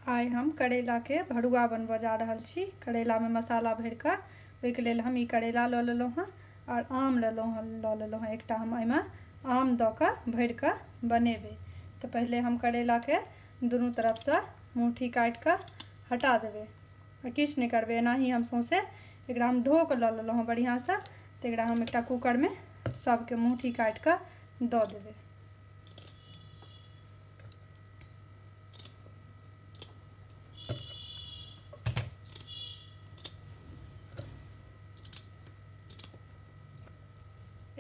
आइ हम करैला के भरुआ बनबऽ जा रहल छी करैला में मसाला भर के ओहि के लेल हम ई करैला लऽ लेलहुँ हँ और आम लेलहुँ हँ लऽ लेलहुँ हँ एकटा हम एहिमे आम दऽ के भर के बनेबै तऽ पहिले हम करैला के दुनू तरफ से मुठी काटि के हटा देबै आ किछु नहि करबै एनाही हम सौंसे एकरा हम धो के लऽ लेलहुँ हँ बढ़िया से तऽ एकरा हम एकटा कुकर में सबके मुठी काटि के दऽ देबै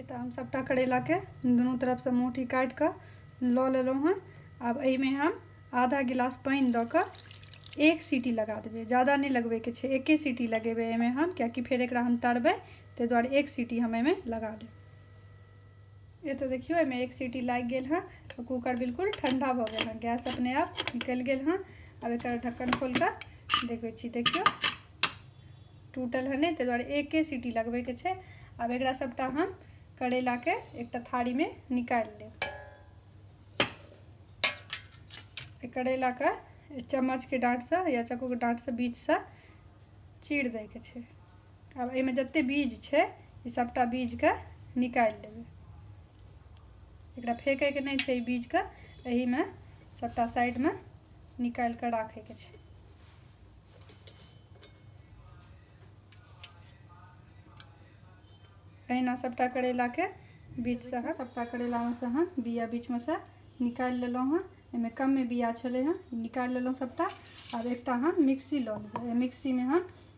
तऽ हम सभटा करैलाके दुनू तरफसँ मुठी काटि कऽ लऽ लेलहुँ हँ आब एहिमे हम आधा गिलास पानि दऽ कऽ एक सीटी लगा देबै ज़्यादा नहि लगबैके छै एके सीटी लगेबै एहिमे हम कियाकि फेर एकरा हम तरबै ताहि दुआरे एक सीटी हम एहिमे लगा देबै ये तो देखियो एहिमे एक सीटी लागि गेल हँ तो कुकर बिल्कुल ठंडा भऽ गेल हँ गैस अपने आप निकलि गेल हँ आब एक ढक्कन खोल कऽ देखबै छी देखियो टूटल है नहि ताहि दुआरे एके सीटी लगबैके छै आब एकरा सबटा हम करैलाके एकटा थारीमे निकालि लेब करैलाके चम्मचके डाँटसँ या चक्कूके डाँटसँ बीचसँ चीर दैके छै आब एहिमे जते बीज छै ई सभटा बीजके निकालि लेबै एकरा फेकैके नहि छै ई बीजके एहिमे सभटा साइडमे निकालि कऽ राखैके छै अहिना सभटा करैलाके बीजसँ सभटा करैलामे सँ हम बिया बीचमे सँ निकालि लेलहुँ हँ एहिमे कमे बिया छलै हँ निकालि लेलहुँ सभटा आब एकटा हम मिक्सी लऽ लेबै मिक्सीमे हम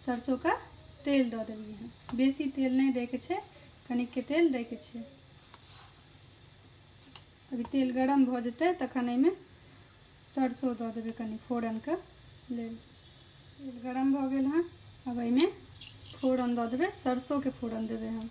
सरसों के तेल दऽ देलियै हँ बेसी तेल नहि दै के छै कनिक के तेल दै के छै अभी तेल गरम भऽ जेतै तखन एहिमे सरसों दऽ देबै कनि फोरन के लेल तेल गरम भऽ गेल हँ अब एहिमे फोरन दऽ देबै सरसों के फोरन देबै हम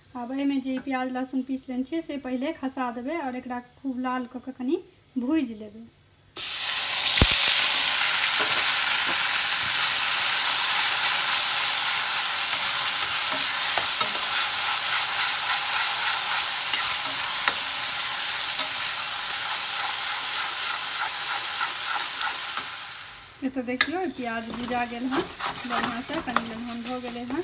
आब एहिमे जे ई प्याज लहसुन पीस लेने छियै से पहिले खसा देबै आओर एकरा खूब लाल कऽ कऽ कनि भूजि लेबै तो देखियो प्याज भुजा गया है बढ़िया से कनी लमहन हो गए हैं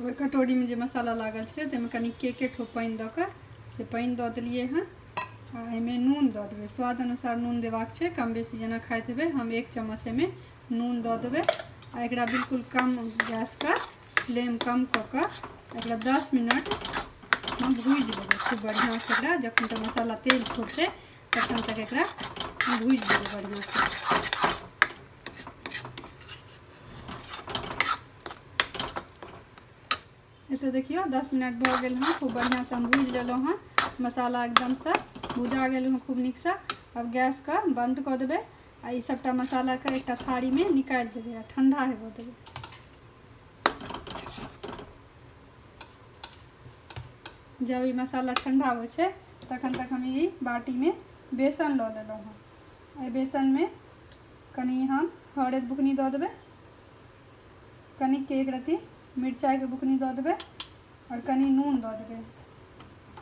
ओहि कटोरीमे जे मसाला लागल छलै ताहिमे कनि के के ठोप पानि दऽ कऽ से पानि दऽ देलिए हँ आ एहिमे नून दऽ देबै स्वाद अनुसार नून देबाक छै कम बेसी जेना खाइत हेबै हम एक चम्मच एहिमे नून दऽ देबै आ एकरा बिल्कुल कम गैसके फ्लेम कम कऽ कऽ एकरा दस मिनट हम भूजि देबै खूब बढ़िआँसँ एकरा जखन तक मसाला तेल छोड़तै तखन तक एकरा भूजि देबै बढ़िआँसँ एतऽ देखियौ दस मिनट भऽ गेल हँ खूब बढ़िआँसँ हम भूजि लेलहुँ हँ मसाला एकदमसँ भुजा गेल हँ खूब नीकसँ आब गैसके बन्द कऽ देबै आ ई सभटा मसालाके एकटा थारीमे निकालि देबै आ ठण्डा हेबऽ देबै जब ई मसाला ठण्डा होइ छै तखन तक हम ई बाटीमे बेसन लऽ लेलहुँ हँ एहि बेसनमे कनि हम हरैद बुकनी दऽ देबै कनिक एक रत्ती मिरचाइके बुकनी दऽ देबै आओर कनि नून दऽ देबै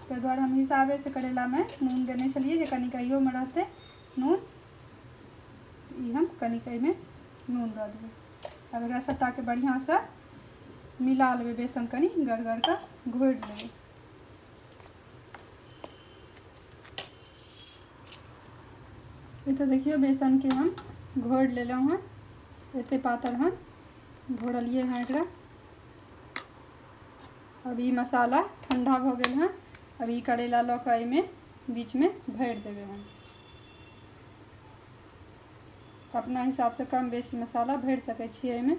ताहि दुआरे हम हिसाबेसँ करैलामे नून देने छलियै जे कनिक अहियोमे रहतै नून ई हम कनिक एहिमे नून दऽ देबै आब एकरा सभटाके बढ़िआँसँ मिला लेबै बेसन कनि गड़गड़के घोरि लेबै एतऽ देखियौ बेसनके हम घोर लेलहुँ हँ एते पातर हम घोरलियै हँ एकरा अब ई मसाला ठंडा भऽ गेल हँ अब ई करैला लऽ कऽ एहिमे बीचमे भरि देबै हम अपना हिसाबसँ कम बेसी मसाला भरि सकै छियै एहिमे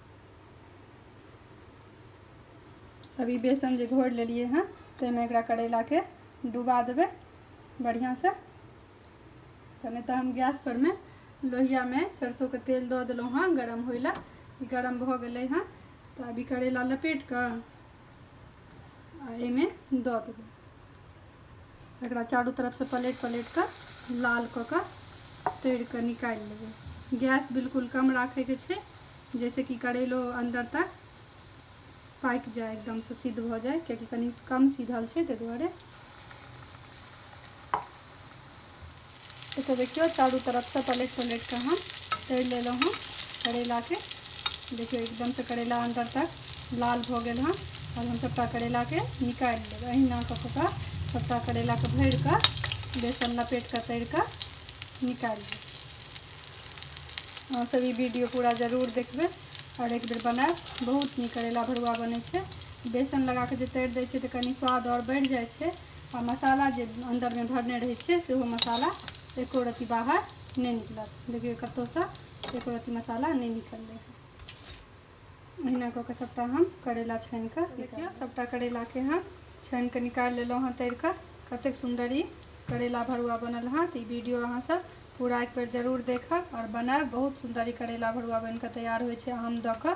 अभी बेसन जे घोरि लेलियै हँ ताहिमे एकरा करैलाके डुबा देबै बढ़िआँसँ तऽ नहि तऽ हम गैस परमे लोहियामे सरसोके तेल दऽ देलहुँ हँ गरम होइ लए ई गरम भऽ गेलै हँ तऽ अभी करैला लपेट कऽ आ एहिमे दऽ देबै एकरा चारू तरफसँ पलटि पलटि कऽ लाल कऽ कऽ तरि कऽ निकालि लेबै गैस बिल्कुल कम राखैके छै जाहिसँ कि करैलो अन्दर तक पाकि जाए एकदमसँ सिद्ध भऽ जाए कियाकि कनि कम सिद्धल छै ताहि दुआरे तो देखियो चारू तरफ से पलट पलट के हम तर ले लो हूँ करेला के देखियो एकदम से करेला अंदर तक लाल हो गए हँ और हम सबटा करेला के निकाल लेब अहिना कऽ कऽ सबटा करेला के भर के बेसन लपेट के तर के निकाल लेब अहाँ सब ई वीडियो पूरा जरूर देखबे और एक बेर बनाब बहुत नीक करेला भरुआ बने बेसन लगा के जे तर दै छै तऽ कनी स्वाद और बढ़ जाए छै आ मसाला जे अन्दरमे भरने रहै छियै सेहो मसाला एको रत्ती बाहर नहि निकलत देखियौ कतहुसँ एको रत्ती मसाला नहि निकललै ओहिना कऽ कऽ सभटा हम करैला छानि कऽ देखियौ सभटा करैलाके हम छानि कऽ निकालि लेलहुँ हँ तरि कऽ कतेक सुन्दर ई करैला भरुआ बनल हँ तऽ ई वीडियो अहाँसभ पूरा एक बेर जरूर देखब आओर बनायब बहुत सुन्दर ई करैला भरुआ बनि कऽ तैयार होइ छै आम दऽ कऽ